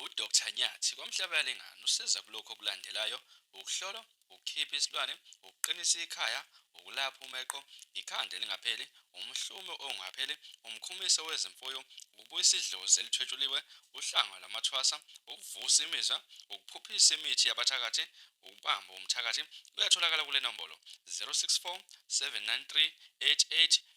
uDr Nyathi kwamhlabela ingane usiza kulokho okulandelayo ukuhlolwa ukukhipha isilwane ukuqinisa ikhaya ukulapha umeqo ikhanda elingapheli umhlume ongapheli umkhumiso wezimfuyo ukubuyisa idlozi elithwetshuliwe uhlanga lwamathwasa ukuvusa imizwa ukuphuphisa imithi yabathakathi ukubamba umthakathi kuyatholakala kule nombolo 064 793 88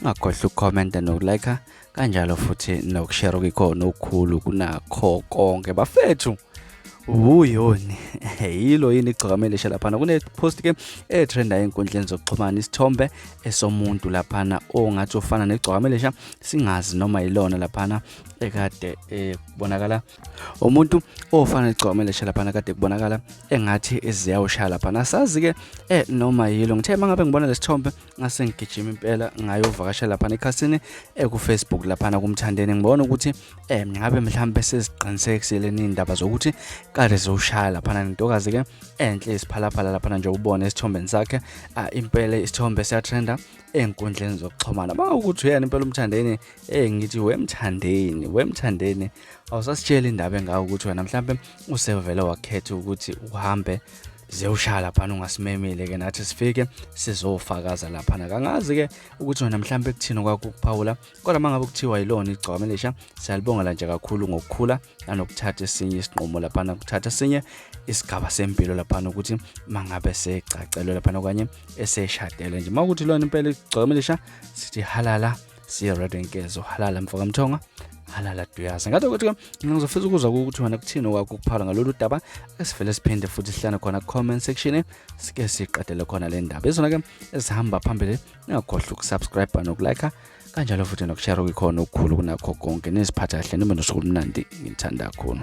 ungakhohlwa ukukhomenta nokulayikha kanjalo futhi nokushare okuyikhona okukhulu kunakho konke bafethu wuyoni yilo yini igcokamele ishe laphana kunepost ke etrenda enkundleni zokuxhumana isithombe esomuntu laphana ongathi ufana negcokamelisha singazi noma yilona laphana ekade eh, kubonakala umuntu ofana negcokamelisha laphana kade kubonakala engathi eziyawushaya laphana sazi ke eh, noma yilo ngithe mangabe ngibona lesithombe ngase ngigijima impela ngayovakasha laphana ekhasini ekufacebook eh, laphana kumthandeni ngibona ukuthi eh ngabe mhlawumbe seziqinisekisile nindaba zokuthi kade zowushaya laphana nentokazi ke enhle isiphalaphala laphana nje ubone esithombeni sakhe ah, impela isithombe siyatrenda enkundleni zokuxhumana banga ukuthi uyena impela umthandeni eh ngithi wemthandeni wemthandeni awusasitshela indaba engawo ukuthi wena mhlawumbe usevele wakhetha ukuthi uhambe zewushaya laphana ungasimemile ke nathi sifike sizofakaza laphana kangazi ke ukuthi wena mhlawumbe kuthini kwakukuphawula kodwa uma ngabe kuthiwa yilona igcwame lisha siyalibongela nje kakhulu ngokukhula nanokuthatha esinye isinqumo laphana kuthatha esinye isigaba sempilo laphana ukuthi mangabe segcacelwe laphana okanye eseshadele nje uma ukuthi lona impela igcwame lisha sithi halala siya radio inkezo halala mfoka mthonga halala duyazi ngathi ukuthi ke mina ngizofisa ukuzwa ukuthi wena kuthini okwakho ukuphala ngalolu daba esivele siphinde futhi sihlane khona comment section sike siqedele khona le ndaba izona ke ezihamba phambili ningakhohlwa ukusubscribe nokulike kanjalo futhi nokushare kuyikhona okukhulu kunakho konke niziphatha kahle nibe nosuku olumnandi ngithanda kakhulu